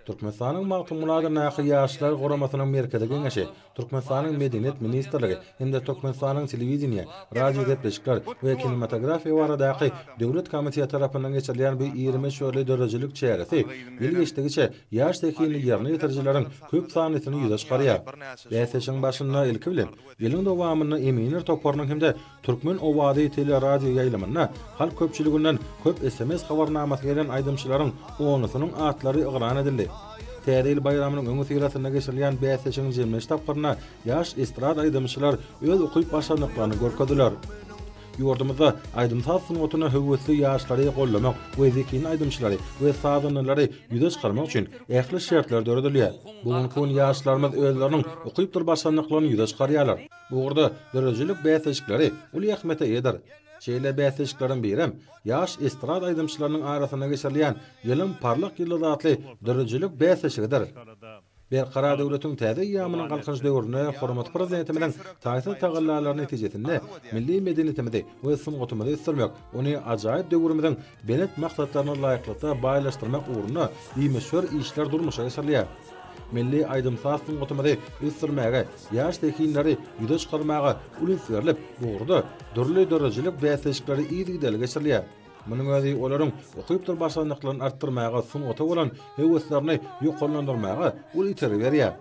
Türkmenistanyň Magtymguladyndaky Ýaşlar guramasynyň Merkezi Geňeşi, Türkmenistanyň Medeniýet ministrligi hem-de Türkmenistanyň Telewideniýe, radiogepleşikler we kinematografiýa baradaky döwlet komiteti tarapyndan geçirilýän bu iri möçberli döredijilik çäresi ýyl geçdigiçe ýaş zehinli ýerine ýetirijileriň köp sanlysyny ýüze çykarýar. Bäsleşigiň barşynda, ilki bilen, ýylyň dowamynda eminler toparynyň hem-de Türkmen owazy teleradioýaýlymynda halk köpçüliginden köp sms habarnamasy gelen aýdymçylaryň onlusynyň atlary yglan edildi. Täze ýyl baýramynyň öňüsyrasynda geçirilýän bäsleşigiň jemleýji tapgyrynda ýaş estrada aýdymçylar öz ukyp-başarnyklaryny görkezdiler. Ýurdumyzda aýdym-saz sungatyna höwesli ýaşlary goldamak we zehinli aýdymçylary we sazandalary ýüze çykarmak üçin ähli şertler döredilýär. Bu günki gün ýaşlarymyz özleriniň ukypdyr başarnyklaryny ýüze çykarýarlar. Bu ugurda döredijilik bäsleşikleri uly ähmiýete eýedir. Şeýle bäsleşikleriň birem Ýaş estrada aýdymçylarynyň arasynda geçirilýän Ýylyň parlak ýyldyzy atly döredijilik bäsleşigidir. Berkarar döwletiň täze eýýamynyň Galkynyş döwründe hormatly Prezidentimiziň taýsyz tagallalary netijesinde milli medeniýetimizi we sungatymyzy ösdürmek, ony ajaýyp döwrümiziň Belent maksatlaryna laýyklykda baýlaşdyrmak ugrunda bimöçber işler durmuşa geçirilýär. Milli aýdym-saz sungatymyzy ösdürmäge, ýaş zehinleri ýüze çykarmaga uly üns berlip, bu ugurda dürli döredijilik bäsleşikleri yzygiderli geçirilýär. Munuň özi olaryň ukypdyr başarnyklaryny artdyrmaga, sungata bolan höweslerini ýokarlandyrmaga uly itergi berýär.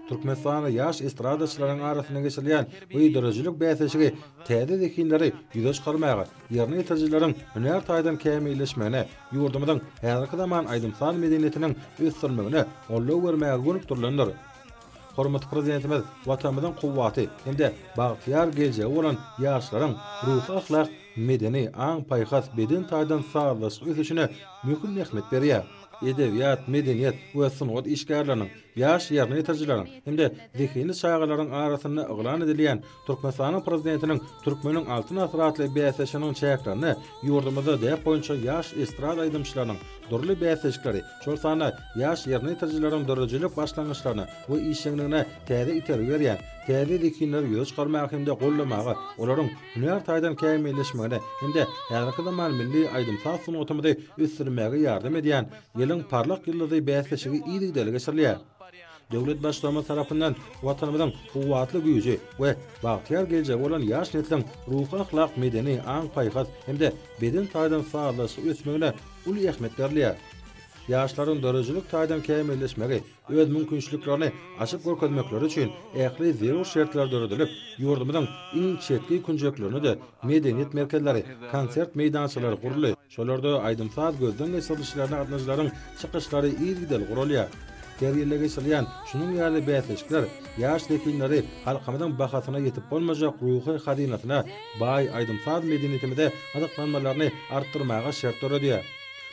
Türkmenistanda ýaş estradaçylaryň arasynda geçirilýän bu döredijilik bäsleşigi täze zehinleri ýüze çykarmaga, ýerine ýetirijileriň hünär taýdan kämilleşmegine, ýurdumyzyň häzirki zaman aýdym-saz medeniýetiniň ösdürilmegine goldaw bermäge gönükdirilendir. Hormatly Prezidentimiz Watanymyzyň kuwwaty hem-de bagtyýar geljegi bolan ýaşlaryň ruhy-ahlak, medeni, aň-paýhas, beden taýdan sazlaşykly ösüşine möhüm ähmiýet berýär. Edebiýat, medeniýet we sungat işgärleriniň, ýaş ýerine ýetirijileriň hem-de zehinli çagalaryň arasynda yglan edilýän Türkmenistanyň Prezidentiniň Türkmeniň Altyn asyry atly bäsleşiginiň çäklerinde ýurdumyzda däp boýunça ýaş estrada aýdymçylarynyň dürli bäsleşikleri, şol sanda ýaş ýerine ýetirijileriň döredijilik başlangyçlaryna we işjeňligine täze itergi berýän täze zehinleri ýüze çykarmaga hem-de goldamaga, olaryň hünär taýdan kämilleşmegine hem-de häzirki zaman milli aýdym-saz sungatymyzy ösdürmäge ýardam edýän Ýylyň parlak ýyldyzy bäsleşigi yzygiderli geçirilýär. Döwlet Baştutanymyz tarapyndan Watanymyzyň kuwwatly güýji we bagtyýar geljegi bolan ýaş nesliň ruhy-ahlak, medeni, aň-paýhas hem-de beden taýdan sazlaşykly ösmegine uly ähmiýet berilýär. Ýaşlaryň döredijilik taýdan kämilleşmegi, öz mümkinçiliklerini açyp görkezmekleri üçin ähli zerur şertler döredilip, ýurdumyzyň iň çetki künjeklerinde-de medeniýet merkezleri, konsert meýdançalary guruldy. Şolarda aýdym-saz gözden geçirilişlerine gatnaşyjylaryň çykyşlary yzygiderli guralýar. Her ýylda geçirilýän şunuň ýaly bäsleşikler ýaş zehinleri halkymyzyň bahasyna ýetip bolmajak ruhy hazynasyna, baý aýdym-saz medeniýetimize gyzyklanmalaryny artdyrmaga şert döredýär.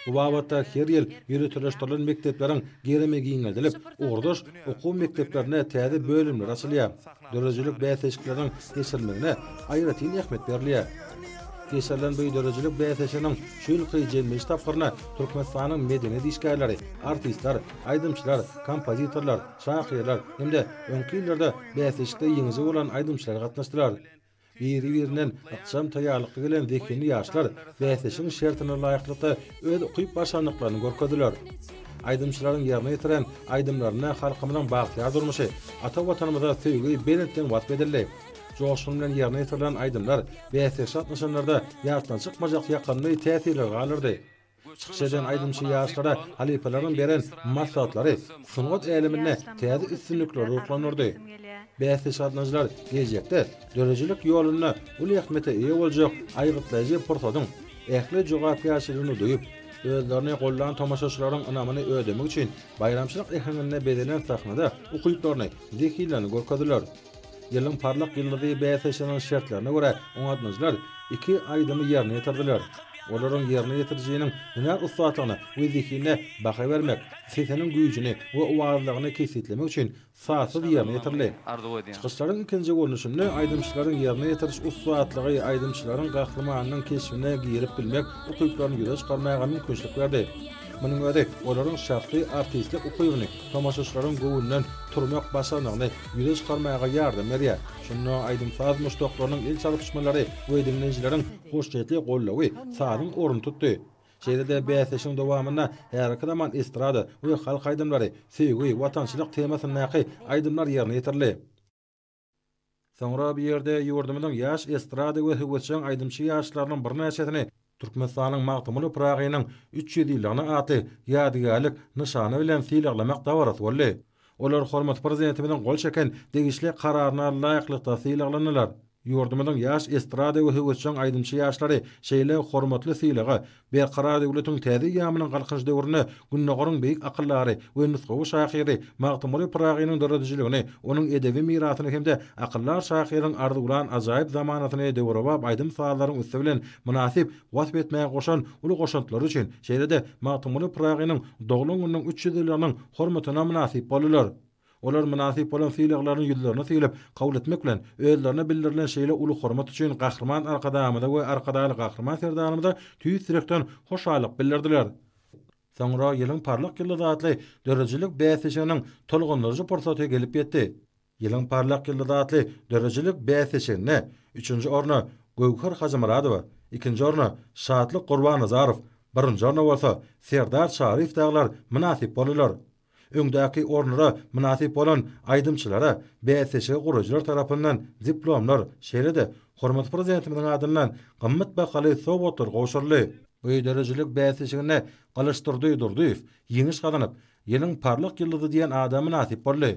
Bu babatda her ýyl ýöriteleşdirilen mekdepleriň gerimi giňeldilip, ugurdaş okuw mekdeplerinde täze bölümler açylýar. Döredijilik bäsleşikleriniň geçirilmegine aýratyn ähmiýet berilýär. Geçirilen bu döredijilik bäsleşiginiň şu ýylky jemleýiş tapgyryna Türkmenistanyň medeniýet işgärleri, artistler, aýdymçylar, kompozitorlar, şahyrlar hem-de öňki ýyllarda bäsleşikde ýeňiji bolan aýdymçylar gatnaşdylar. Biri-birinden ykjam taýýarlykly gelen zehinli ýaşlar bäsleşigiň şertine laýyklykda öz ukyp-başarnyklaryny görkezdiler. Aýdymçylaryň ýerine ýetiren aýdymlarynda halkymyzyň bagtyýar durmuşy, ata Watanymyza söýgi belentden wasp edildi. Joşgun bilen ýerine ýetirilen aýdymlar bäsleşige gatnaşanlarda ýatdan çykmajak ýakymly täsirleri galdyrdy. Çykyş eden aýdymçy ýaşlara halypalaryň beren maslahatlary sungat äleminde täze üstünlikleri ruhlandyrdy. Bäsdeş gatnaýjylar geljekde döredijilik ýolunda uly ähmiýete eýe boljak aýgytlaýjy pursatyň ähli jogapkärçiligini duýup, özlerini gollan tomaşaçylaryň ynamyny ödemek üçin baýramçylyk äheňinde bezelen sahnada ukyplaryny, zehinlerini görkezdiler. Ýylyň parlak ýyldyzy bäsleşiginiň şertlerine görä, oňatmaçylar iki aýdymy ýerine ýetirdiler. Olaryň ýerine ýetirijiniň hünär ussatlygyna we zehinine baha bermek, sesiniň güýjüni we owazdagny kesgitlemek üçin sazsyz ýerine ýetirildi. Çykyşlaryň ikinji görnüşinde aýdymçylaryň ýerine ýetiriş ussatlygy aýdymçylaryň gahrymanynyň keşbine girip bilmek ukyplaryny ýüze çykarmaga mümkinçilik berdi. Munuň özi olaryň şahsy artistlik ukybyny, tomaşaçylaryň göwnünden turmak başarnygyny ýüze çykarmaga ýardam berýär. Şunda aýdym-saz muşdaklarynyň el çalyşmalary we diňleýjileriň hoşniýetli gollawy sazyň ornuny tutdy. Şeýle-de bäsleşigiň dowamynda häzirki zaman estrada we halk aýdymlary, söýgi, watançylyk temasyndaky aýdymlar ýerine ýetirildi. Soňra bu ýerde ýurdumyzyň ýaş estrada we höwesjeň aýdymçy ýaşlarynyň birnäçesini Türkmenistanyň Magtymguly Pyragynyň üç ýüz ýyllygyny atly ýadygärlik nyşany bilen sylaglamak dabarasy boldy. Olar hormatly Prezidentimiziň gol çeken degişli Kararyna laýyklykda sylaglanylar. Ýurdumyzyň ýaş estrada we höwesjeň aýdymçy ýaşlary şeýle hormatly sylaga Berkarar döwletiň täze eýýamynyň Galkynyş döwründe Gündogaryň beýik akyldary we nusgawy şahyry Magtymguly Pyragynyň döredijiligini, onuň edebi mirasyny hem-de akyldar şahyryň arzuwlan ajaýyp zamanasyny döwrebap aýdym-sazlaryň üsti bilen mynasyp wasp etmäge goşan uly goşantlary üçin, şeýle-de Magtymguly Pyragynyň doglan gününiň üç ýüz ýyllygynyň hormatyna mynasyp boldular. Olar mynasyp bolan sylaglaryny ýüzlerine sylyp kabul etmek bilen, özlerine bildirilen şeýle uly hormat üçin Gahryman Arkadagymyza we Arkadagly Gahryman Serdarymyza tüýs ýürekden hoşallyk bildirdiler. Soňra Ýylyň parlak ýyldyzy atly döredijilik bäsleşiginiň tolgundyryjy pursaty gelip ýetdi. Ýylyň parlak ýyldyzy atly döredijilik bäsleşiginde üçünji orna Göwher Hajymyradowa, ikinji orna Şatlyk Gurbanazarow, birinji orna bolsa Serdar Çaryýew dagylar mynasyp boldular. Öňdäki ornlara mynasyp bolan aýdymçylara bäsleşigi guraýjylar tarapyndan diplomlar, şeýle-de hormatly Prezidentimiziň adyndan gymmat bahaly sowgatlar gowşuryldy. Bu döredijilik bäsleşiginde Gylyçdurdy Durdyýew ýeňiş gazanyp, Ýylyň parlak ýyldyzy diýen ada mynasyp boldy.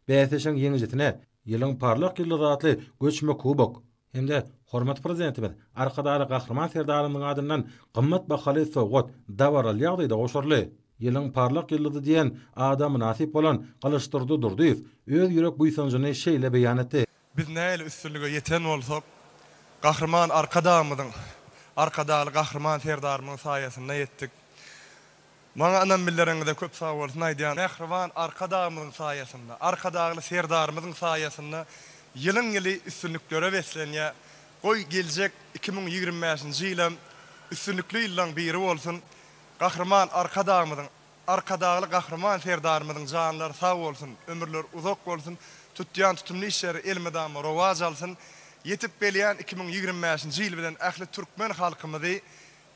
Bäsleşigiň ýeňijisine Ýylyň parlak ýyldyzy atly göçme kubok hem-de hormatly Prezidentimiz Arkadagly Gahryman Serdarymyzyň adyndan gymmat bahaly sowgat dabaraly ýagdaýda goşaryldy. Ýylyň parlak ýyldyzy diýen ada mynasyp bolan Gylyçdurdy Durdyýew öz ýürek buýsanjyny şeýle beýan etdi. Biz nähili üstünlige ýeten bolsak, Gahryman Arkadagymyzyň, Arkadagly Gahryman Serdarymyzyň saýasynda ýetdik. Maňa ynam bildireniňize köp sag bolsun aýdýan. Mähriban Arkadagymyzyň saýasynda, Arkadagly Serdarymyzyň saýasynda ýylyň-ýyly üstünliklere beslenýär. Goý, geljek iki müň ýigrimi bäşinji ýylam üstünlikli ýyllaryň biri bolsun. Gahryman Arkadagymyzyň, Arkadagly Gahryman Serdarymyzyň janlary sag bolsun, ömürleri uzak bolsun, tutýan tutumly işleri elmydama rowaç alsyn, ýetip gelýän iki müň ýigrimi bäşinji ýyl bilen ähli türkmen halkymyzy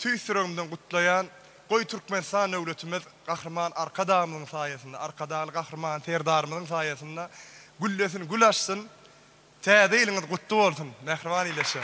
tüýs ýüregimden gutlaýan, goý Türkmenistan döwletimiz Gahryman Arkadagymyzyň saýasynda, Arkadagly Gahryman Serdarymyzyň saýasynda güllesin, gül açsyn, Täze ýylyňyz gutly bolsun, mähriban ildeşler!